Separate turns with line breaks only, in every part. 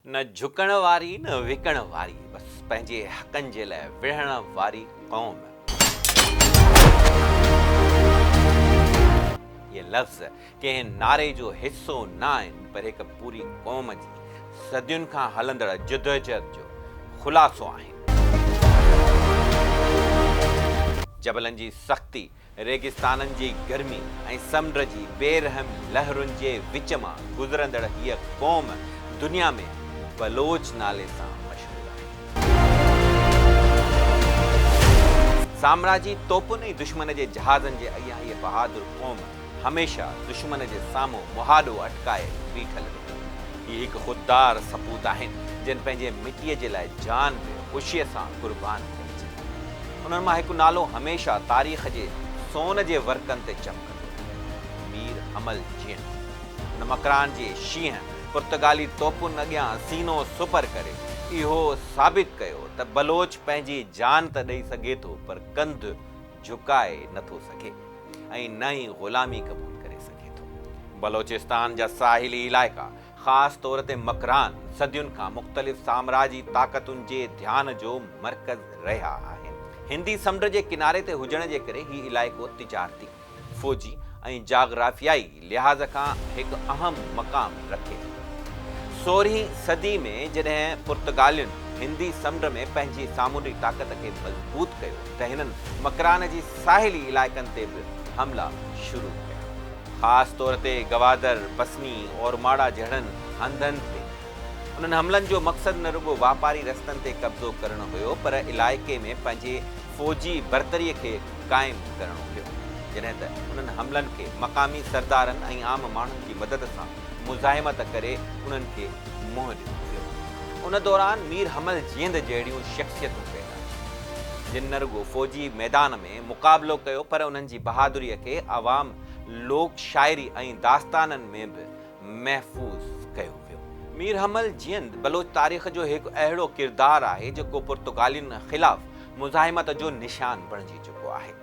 نه جهڪڻ واري نه وڪڻ واري بس پنهنجي حقن جي لاء وڙهڻ واري قوم. اهي لفظ ڪنهن نعري جو حصو نه آهن پر هڪ پوري قوم جي صدين کان هلندڙ جدوجهد جو خلاصو آهن. جبلن جي سختي ريگستانن جي گرمي ۽ سمنڊ جي بي رحم لهرن جي وچ مان گذرندڙ هيء قوم دنيا ۾ بلوچ نالي سان مشهور آهي. سامراجي توپن ۽ دشمن جي جهازن جي اڳيان هيء بهادر قوم هميشه دشمن جي سامهون مهاڏو اٽڪائي بيٺل رهي. هي هڪ خوددار سپوت آهن، جن پنهنجي مٽيء جي لاء جان به خوشيء سان قربان ڪئي. انهن مان هڪ نالو هميشه تاريخ جي سون جي ورقن تي چمڪندو رهندو، مير حمل جيئن هن مڪران جي شينهن پرتگالي توپن اڳيان سينو سپر ڪري اهو ثابت ڪيو ته بلوچ پنهنجي جان ته ڏئي سگهي ٿو پر ڪنڌ جهڪائي نه ٿو سگهي ۽ نه ئي غلامي قبول ڪري سگهي ٿو. بلوچستان جا ساحلي علائقا خاص طور تي مڪران صدين کان مختلف سامراجي طاقتن جي ڌيان جو مرڪز رهيا آهن. هندي سمنڊ جي ڪناري تي هجڻ جي ڪري هي علائقو تجارتي، فوجي ۽ جاگرافيائي لحاظ کان هڪ اهم مقام رکي ٿو. سورهين صدي ۾ جڏهن پرتگالين هندي سمنڊ ۾ پنهنجي سامونڊي طاقت کي مضبوط ڪيو ته هنن مڪران جي ساحلي علائقن تي به حملا شروع ڪيا. خاص طور تي گوادر، پسني، اورماڙا جهڙن هنڌن تي. انهن حملن جو مقصد نه رڳو واپاري رستن تي قبضو ڪرڻ هيو پر علائقي ۾ پنهنجي فوجي برتري کي قائم ڪرڻو هيو. جڏهن ته انهن حملن کي مقامي سردارن ۽ عام ماڻهن جي مدد سان مزاحمت ڪري انهن کي منهن ڏنو ويو. ان دوران مير حمل جيند جهڙيون شخصيتون پيدا ٿيون جن نه رڳو فوجي ميدان ۾ مقابلو ڪيو پر انهن جي. جي بهادريء کي عوام لوڪ شاعري ۽ داستانن ۾ به محفوظ ڪيو ويو. مير حمل جيند بلوچ تاريخ جو هڪ اهڙو ڪردار آهي، جيڪو پرتگالين خلاف مزاحمت جو نشان بڻجي چڪو آهي.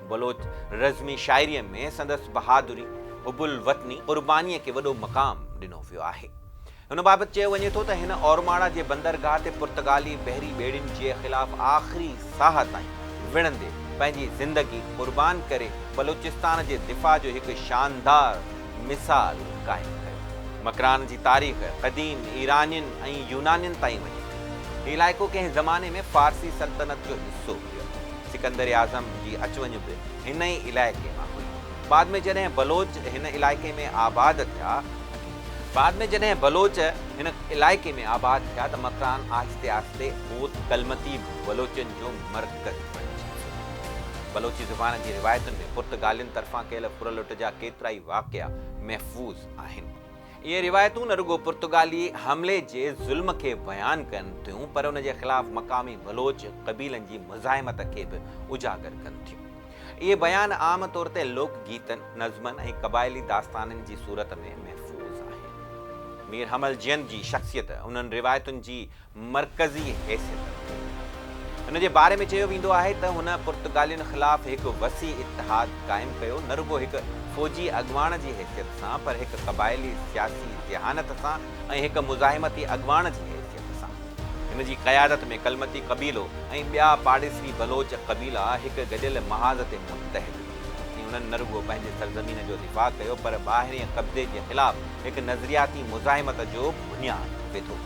بلوچ رزمي شاعريء ۾ سندس بهادري، حب الوطني، قربانيء کي وڏو مقام ڏنو ويو آهي. ان بابت چيو وڃي ٿو ته هن اورماڙا جي بندرگاهه تي پرتگالي بحري ٻيڙين جي خلاف آخري ساهه تائين وڙهندي پنهنجي زندگي قربان ڪري بلوچستان جي دفاع جو هڪ شاندار مثال قائم ڪيو. مڪران جي تاريخ قديم ايرانين ۽ يونانين تائين وڃي ٿي. هي علائقو ڪنهن زماني ۾ فارسي سلطنت جو حصو هيو. سڪندر اعظم جي اچ وڃ به هن ئي علائقي مان هئي. بعد ۾ جڏهن بلوچ هن علائقي ۾ آباد ٿيا، بعد ۾ جڏهن بلوچ هن علائقي ۾ آباد ٿيا ته مڪران آهستي آهستي اوت ڪلمتي بلوچن جو مرڪز بڻجي ويو. بلوچي زبان جي روايتن ۾ پرتگالين طرفان ڪيل ڦر لٽ جا ڪيترائي واقعا محفوظ آهن. اهي روايتون نه رڳو پرتگالي حملي جي ظلم کي بيان ڪن ٿيون پر ان جي خلاف مقامي بلوچ قبيلن جي مزاحمت کي به اجاگر ڪن ٿيون. اهي بيان عام طور تي لوڪ گيتن، نظمن ۽ قبائلي داستانن جي صورت ۾ محفوظ آهن. مير حمل جيند جي شخصيت انهن روايتن جي مرڪزي حيثيت رکي ٿي. هن جي باري ۾ چيو ويندو آهي ته هن پرتگالين خلاف هڪ وسيع اتحاد قائم ڪيو، نه رڳو هڪ فوجي اڳواڻ جي حيثيت سان، پر هڪ قبائلي سياسي ذهانت سان ۽ هڪ مزاحمتي اڳواڻ جي حيثيت سان. هن جي قيادت ۾ ڪلمتي قبيلو ۽ ٻيا پاڙيسري بلوچ قبيلا هڪ گڏيل محاذ تي متحد ٿي ويا ۽ انهن نه رڳو پنهنجي سرزمين جو دفاع ڪيو پر ٻاهرئين قبضي جي خلاف هڪ نظرياتي مزاحمت جو بنياد وڌو.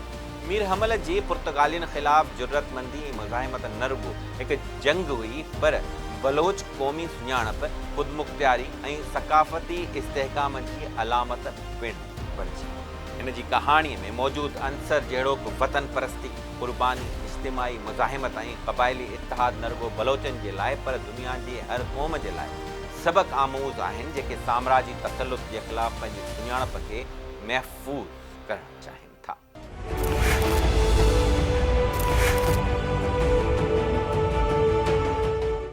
مير حمل جي پرتگالين خلاف جرئتمندي ۽ مزاحمت نه رڳو هڪ جنگ هئي پر بلوچ قومي سڃاڻپ، خودمختياري ۽ ثقافتي استحڪام جي علامت پڻ هئي. بڻجي. هن جي ڪهاڻيء ۾ موجود عنصر جهڙوڪ وطن پرستي، قرباني، اجتماعي مزاحمت ۽ قبائلي اتحاد نه رڳو بلوچن جي لاء پر دنيا جي هر قوم جي لاء سبق آموز آهن جيڪي سامراجي تسلط جي خلاف پنهنجي سڃاڻپ کي محفوظ ڪرڻ چاهين ٿا.